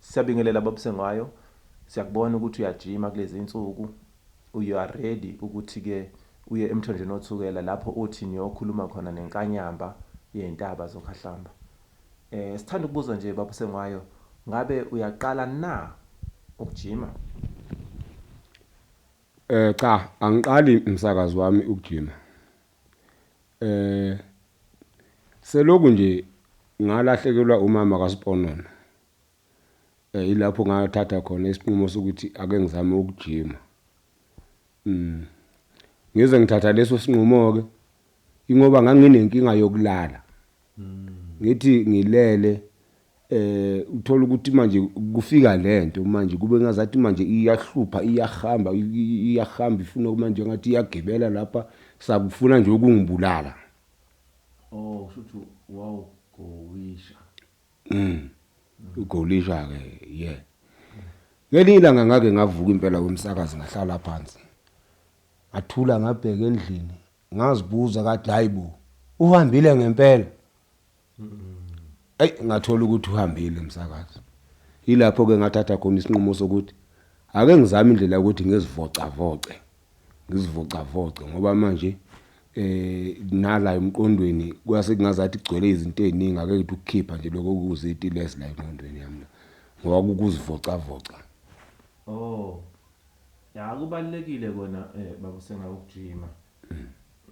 Syabingelela baba Sengwayo syakubona ukuthi uyajima kulezinsuku you are ready ukuthi ke uye emthonjeni wothukela lapho othi niyokhuluma khona nenkanyamba yeyntaba zokhahlamba eh sithanda ukubuza nje baba Sengwayo ngabe uyaqala na ukujima Eh cha angiqali umsakazi wami ukujima eh seloku nje ngalahlekelwa umama kaSponona Yilapho ngathatha khona isinqumo sokuthi ake ngizame ukujima. Mm. Ngize ngithatha leso sinqumo-ke, ingoba nganginenkinga yokulala. Ngithi ngilele, eh, uthole ukuthi manje kufika lento manje kube ngazathi manje iyahlupha iyahamba iyahamba ifuna manje ngathi iyagibela lapha sakufuna nje ukungibulala. Oh, kusho ukuthi wawugowisha. Mm. Ugolisha ke yeah. Ngelinye ilanga ngake ngavuka impela kumsakazi ngahlala phansi. Ngathula ngabheka endlini, ngazibuza kathi hayibo, uhambile ngempela. Ey ngathola ukuthi uhambile umsakazi. Yilapho ke ngathatha khona isinqumo sokuthi ake ngizame indlela ukuthi ngizivocavoce. ngizivocavoce ngoba manje eh nala emqondweni kwase kungazathi kugcwele izinto eziningi ake ngithi ukukhipha nje lokho kuziti lezi la emqondweni yami la ngoba kukuzivocavoca oh ya kubalekile kona eh baba senga ukujima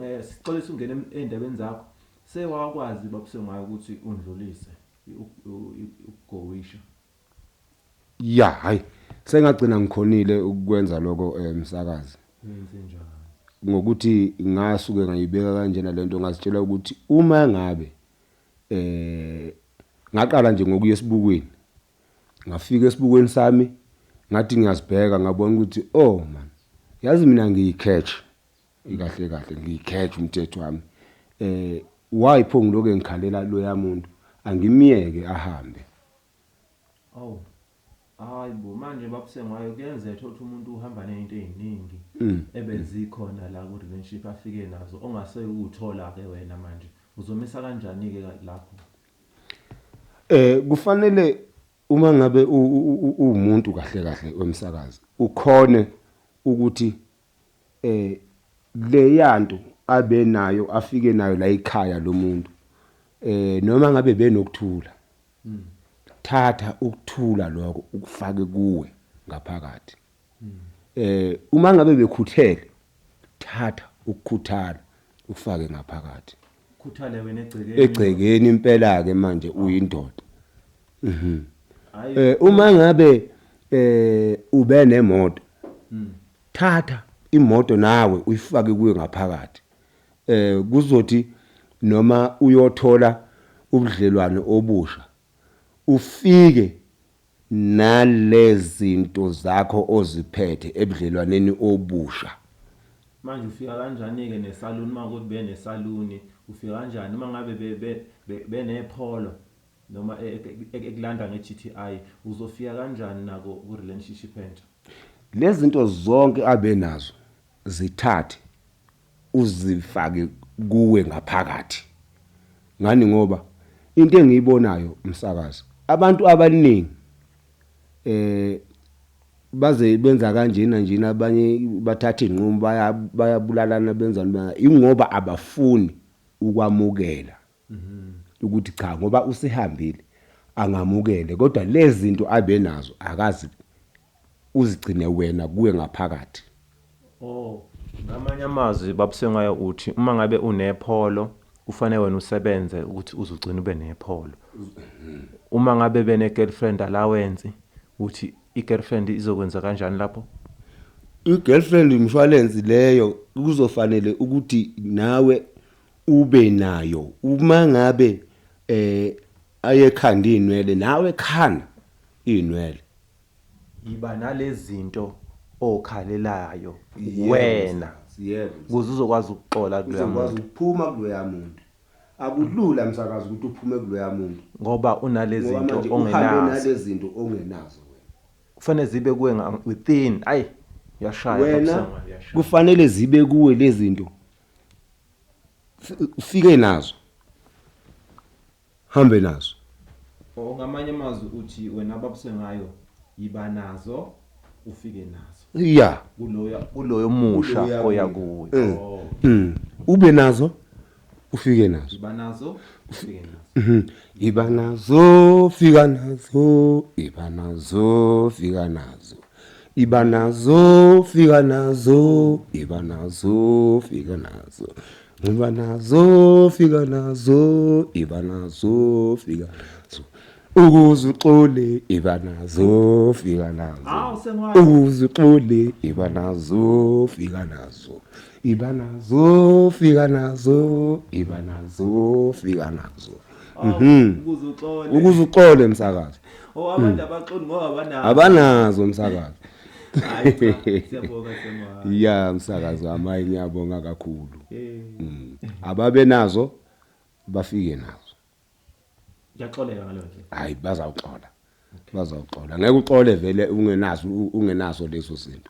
eh sixolisa ungena endabeni zakho sewakwazi baba sengayo ukuthi undlulise ukugowisha ya hayi sengagcina ngikhonile ukwenza lokho eh, msakazi ngokuthi ngasuke ngayibeka kanjena lento ngazitshela ukuthi uma ngabe eh ngaqala nje ngokuya esibukweni ngafika esibukweni sami ngathi ngiyazibheka ngabona ukuthi oh man yazi mina ngiyicatch ikahle kahle ngiyicatch umthetho wami eh why pho ngiloke ngikhalela lo yamuntu angimiyeke ahambe Awu. Hayi bo manje babusengwayo kuyenzeka thothi umuntu uhamba nezinto eziningi mm. ebezikhona la ku relationship afike nazo ongase ukuthola ke wena manje uzomisa kanjani ke lapho eh kufanele uma ngabe uwumuntu kahle kahle wemsakazi ukhone ukuthi Leyanto abenayo afike nayo la ekhaya lomuntu noma ngabe benokuthula thatha ukuthula lokho ukufake kuwe ngaphakathi uma ngabe bekhuthele thatha ukukhuthala ukufake ngaphakathi. Khuthale wena egcekeni. Egcekeni impela ke manje uyindoda. Mhm. Eh uma ngabe eh ube nemoto. Hmm. Thatha imoto nawe uyifake kuyo ngaphakathi. Eh kuzothi noma uyothola ubudlelwane obusha ufike Nalezinto zakho oziphethe ebudlelwaneni obusha. Manje ufika kanjanike nesaluni uma kukuthi benesaluni ufika kanjani uma ngabe benepolo noma ekulanda nge GTI uzofika kanjani nako ku relationship entsha. Lezinto zonke abenazo zithathe. uzifake kuwe ngaphakathi ngani ngoba into engiyibonayo umsakazi abantu abaningi eh baze benza kanjena njena abanye bathatha izinqumo bayabulalana benzani ingoba abafuni ukwamukela ukuthi cha ngoba usehambile angamukele kodwa lezinto abenazo akazi uzigcine wena kuwe ngaphakathi oh ngamanye amazwi babusengwayo uthi uma ngabe unepholo kufanele wena usebenze ukuthi uzugcina ube nepholo uma ngabe bene girlfriend allowance uthi i girlfriend izokwenza kanjani lapho i girlfriend insurance leyo kuzofanele ukuthi nawe ube nayo uma ngabe eh ayekhanda inwele nawe khana inwele yiba nalezinto okhalelayo wena kuze uzokwazi ukuxola kuloya muntu ukuphuma kuloya muntu akulula msakazi ukuthi uphume kuloya muntu ngoba unalezinto ongenazo nalezinto ongenazo wena kufanele zibe kuwe within ayi yashaya wena kufanele zibe kuwe lezinto ufike nazo hambe nazo or ngamanye amazwi uthi wena ababuse ngayo yiba nazo ufike nazo ya kuloya kuloyo musha Kuloya oya kuya. kuyo Mm. oh Mm. ube nazo ufike nazo yiba nazo ufike nazo Mhm. iba nazo fika nazo iba nazo fika nazo Iba nazo, fika nazo, iba nazo, fika nazo. Ngiba nazo, fika nazo, iba nazo, fika nazo. Ukuze uxole, iba nazo, fika nazo. Ukuze uxole, iba nazo, fika nazo. Iba nazo, fika nazo, iba nazo, fika nazo. Mhm. ukuze uxole Ukuze uxole msakazi. oh abantu abaxoli ngoba abanazo Abanazo msakazi. Hayi cha, siyabonga siyabonga Ya msakazi wami hayi ngiyabonga kakhulu. Eh, Mm. Ababe nazo bafike nazo. ngiyaxoleka ngaleyo ndlela Hayi bazawuxola. Bazawuxola. Ngeke uxole vele ungenazo ungenazo lezo zinto.